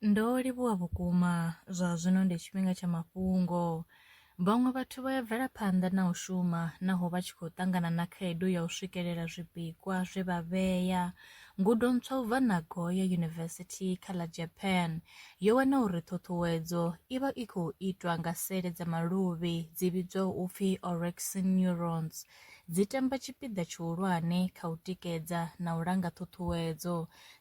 Ndo livhuwa vhukuma, zwa zwino ndi tshifhinga tsha mafhungo. Vhaṅwe vhathu vha ya bvela phanḓa na u shuma naho vha tshi khou ṱangana na khaedu ya u swikelela zwipikwa zwe vha vhea. Ngudo ntswa u bva Nagoya University kha ḽa Japan yo wana uri ṱhuṱhuwedzo i vha i khou itwa nga sele dza maluvhi dzi vhidzwaho u pfi orexin neurons, dzi tamba tshipiḓa tshihulwane kha u tikedza na u langa ṱhuṱhuwedzo.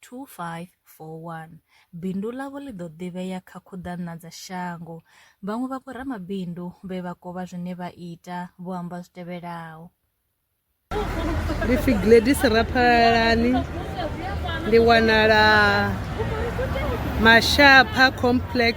2541. Bindu ḽavho ḽi ḓo ḓivhea kha khuḓaṋa dza shango. Vhaṅwe vha vhoramabindu vhe vha kovha zwine vha ita vho amba zwi tevhelaho. Ndi pfi Gladys Raphalalani, ndi wanala Mashapha Complex.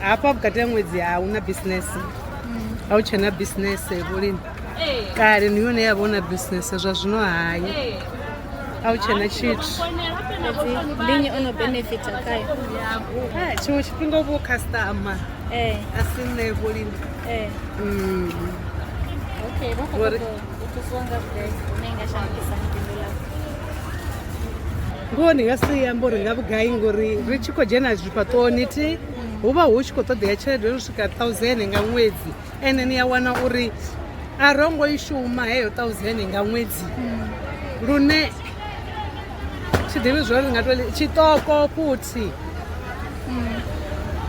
hafha vhukati ha ṅwedzi a hu na bisinese a hu tshena bisinese vhulimi kale ni yone ya vha hu na bisinese zwa zwino hayi a hu tshena tshithu ndi nnyi o no benefita khayo Ah, tshiṅwe tshifhinga u vho customer ee a si nṋe vhulimi ee Mm. okay vha khou Ngori- ṱoḓa u- itiswanga vhugai hune i nga shandukisa bindu ḽa ngoho ndi nga si ri amba uri nga vhugai ngori ri tshi khou dzhena zwifhaṱoni thi hu vha hu tshi khou ṱoḓea tshelede yo no swika thousand nga ṅwedzi ende ni a wana uri a ro ngo i shuma heyo thousand nga ṅwedzi lune tshi ḓivhi zwori ri nga to tshiṱoko futhi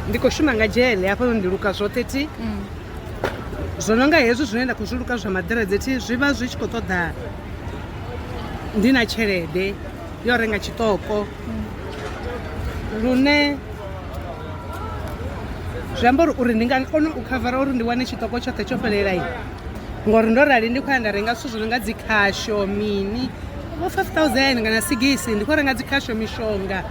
ndi khou shuma nga dzhele hafhanoni ndi luka zwoṱhe thi zwo no nga hezwi zwine nda khou zwi luka zwa maḓiredzhe thi zwi vha zwi tshi khou ṱoḓa ndi na tshelede yo renga tshiṱoko lune zwi amba uri uri ndi nga kona u khavara uri ndi wane tshiṱoko tshoṱhe tsho fhelelai ngori ndo rali ndi khou ya nda renga zwithu zwi no nga dzikhasho mini vho five thousand kana sigisi ndi khou renga dzikhasho mishonga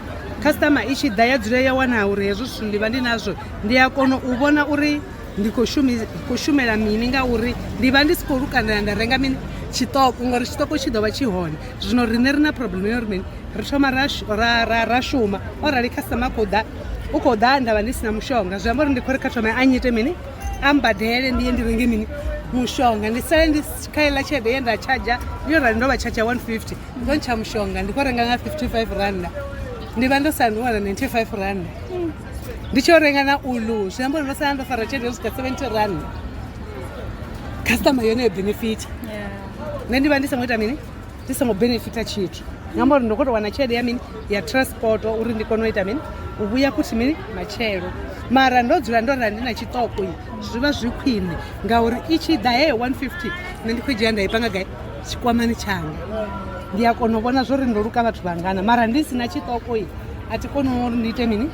customer i tshi ḓa ya dzula ya wana uri hezwo zwithu ndi vha ndi nazwo ndi a kona u vhona uri ndi khou shumi khou shumela mini ngauri ndi vha ndi si khou lukanela nda renga mini tshiṱoko ngori tshiṱoko tshi ḓo vha tshi hone zwino riṋe ri na problem yo ri mini ri thoma ra shu- ra ra ra shuma o rali customer a khou ḓa u khou ḓa nda vha ndi si na mushonga zwi amba uri ndi khou ri kha thome a nyite mini a mbadele ndi ye ndi renge mini mushonga ndi sale ndi si- kha iḽa tshelede ye nda tshadzha yo rali ndo vha tshadzha 150 ndo ntsha mushonga ndi khou renga nga 55 randa ndi vha ndo sandiwana 95 randa ndi tshi yo renga na ulu zwi amba uri ndo sala ndo fara tshelede yo swika seventy run customer yone yo benefita nṋe ndi vha ndi songo ita mini ndi songo benefita tshithu ngamba uri ndo kho to wana tshelede ya mini ya transport uri ndi kone u ita mini u vhuya futhi mini matshelo mara ndo dzula ndo rali ndi na tshiṱoko i zwi vha zwi khwine ngauri i tshi ḓa he 150 nṋe ndi khou dzhia nda i panga gai tshikwamani tshanga ndi a kona u vhona zwo ri ndo luka vhathu vhangana mara ndi si na tshiṱoko i a thi koni uri ndi ite mini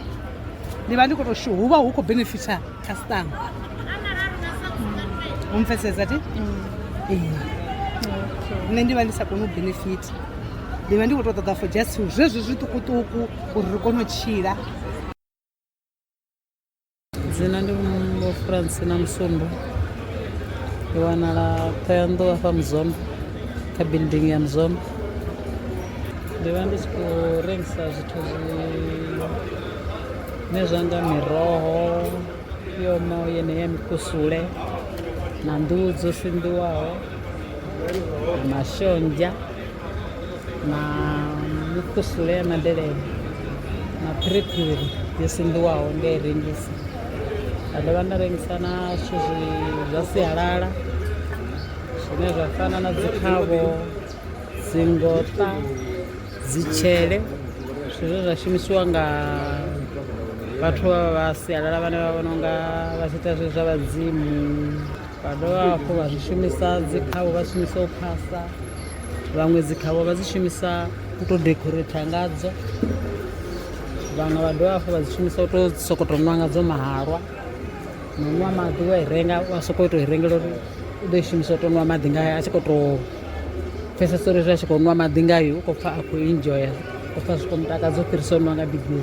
ndi vha ndi khou to hu vha hu khou benefitha customer u mpfesesa ti nṋe ndi vha ndi sa koni u benefita ndi vha ndi khou to ṱoḓa for just zwezwi zwiṱukuṱuku uri ri kone u tshila dzina ndi vho francina musumbu ndi wanala thoyanḓou afha muzombo kha building ya muzombo ndi vha ndi tshi khou rengisa zwithu zwine zwa nga miroho yoma yeneya mikusule na nḓuhu dzo sinḓiwaho na mashonzha na mukusule ya madelele na phiriphiri yo sinḓiwaho ndi i rengisa nda dovha nda rengisa na zwithu zwa sialala zwine zwa fana na dzi khavho dzingota dzitshele zwine zwa shumisiwa nga vhathu vha sialala vhane vha vhona unga vha tshi ita zwezwi zwa vhadzimu. vha dovha hafhu vha zwi shumisa dzi khavho vha shumisa u phasa vhaṅwe dzi khavho vha dzi shumisa u tou decorator ngadzo vhaṅwe vha dovha hafhu vha dzi shumisa u tou sokoto tou nwa ngadzo mahalwa na nwa maḓi wa i renga wa sokou tou i rengela uri u ḓo i shumisa u tou nwa maḓi ngayo a tshi khou tou pfhesesa uri zwi a tshi khou nwa maḓi ngayo u khou pfha a khou enjoya u khou pfha zwi khou mutakadza u fhirisa u nwa nga bigiri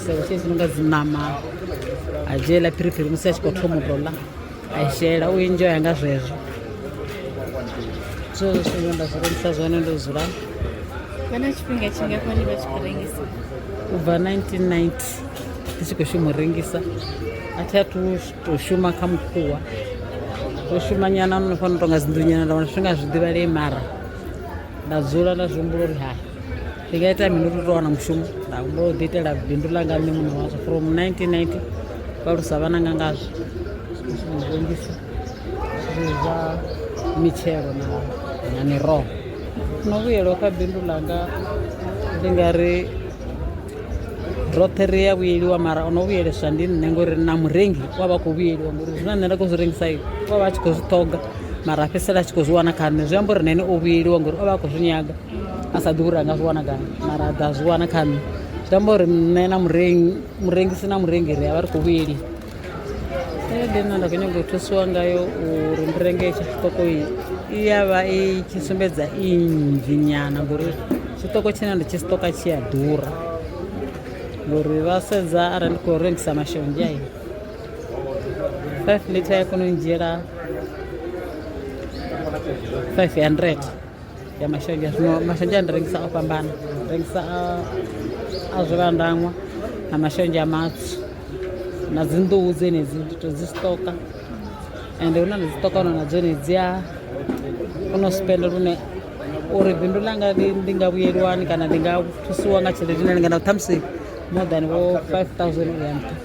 seo tshe zwi nonga dziṋama a dzhiela phiriphiri musi a tshi khou thoma u tou ḽa a i shela u enjoya nga zwezwo zwezwo zwithu zwine nda zwi rengisa zwone ndo dzula kana tshifhinga tshingafhani vha tshi khou rengisa u bva 1990 ndi tshi khou shuma u rengisa a thi a thu tou shuma kha mukhuwa ndo shumanyana no fana u tonga dzinḓunyana nda wana zwifhinga zwi ḓivhalee mara nda dzula nda zwi humbula uri hai ndi nga ita mini uri to wana mushumo nda humbula u ḓiitela bindu ḽanga nṋe muṋe wazwo from 1990 vhalusa vhana nga ngazwo rengisa zwa mitshelo na na miroho no vhuyelwa kha bindu ḽanga ndi nga ri roṱhe ri ya vhuyeliwa mara o no vhuyeleswa ndi nṋe ngori na murengi wa vha khou vhuyeliwa ngori zwine nṋe nda khou zwi rengisa u vha vha tshi khou zwi ṱhoga mara a fhedzisela a tshi khou zwi wana kha nṋe zwi amba uri na ene o vhuyeliwa ngori o vha a khou zwi nyaga a sa ḓivhi uri a nga zwi wana gai mara a ḓa a zwi wana kha nṋe zwi amba uri nṋe na murengi murengisi na murengi ri a vha ri khou vhuyeliwa tshelede nṋe nda khou nyanga u thusiwa ngayo uri ndi renge etsho tshiṱoko i ya vha i tshi sumbedza i nnzhi nyana ngori tshiṱoko tshine ndi tshi sitoka tshi a ḓura ngori vha sedza arali ndi khou rengisa mashonzha i 5 liter ya kona u ndzhiela 500 ya mashonzha zwino mashonzha ndi rengisa o fhambana rengisa a zwivhandangwa na mashonzha a matswu na dzinḓuhu dzenedzi ndi to dzi stoka ende hu na na dziṱoka hona na dzone dzi a kona u spenda lune uri bindu langa ndi nga vhuyeliwani kana ndi nga thusiwa nga tshelede ine lingana ṱhamusi more than vho 5000 uya nṱha